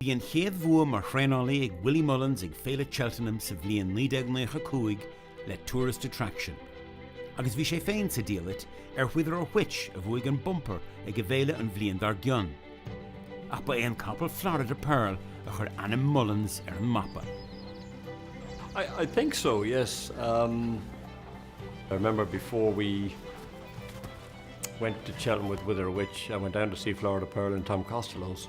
Bhí an chéad bhua mar thraenálaí ag Willie Mullins ag Féile Cheltenham sa bhliain 1995 le Tourist Attraction, agus bhí sé féin sa diallait ar Wither or Which a bhuaigh an bumper ag an bhféile an bhliain dár gcionn, ach ba é an capall Florida Pearl a chuir ainm Mullins ar an mapa. I, I think so, yes. Um, I remember before we went to Cheltenham with Wither or Which, I went down to see Florida Pearl in Tom Costello's.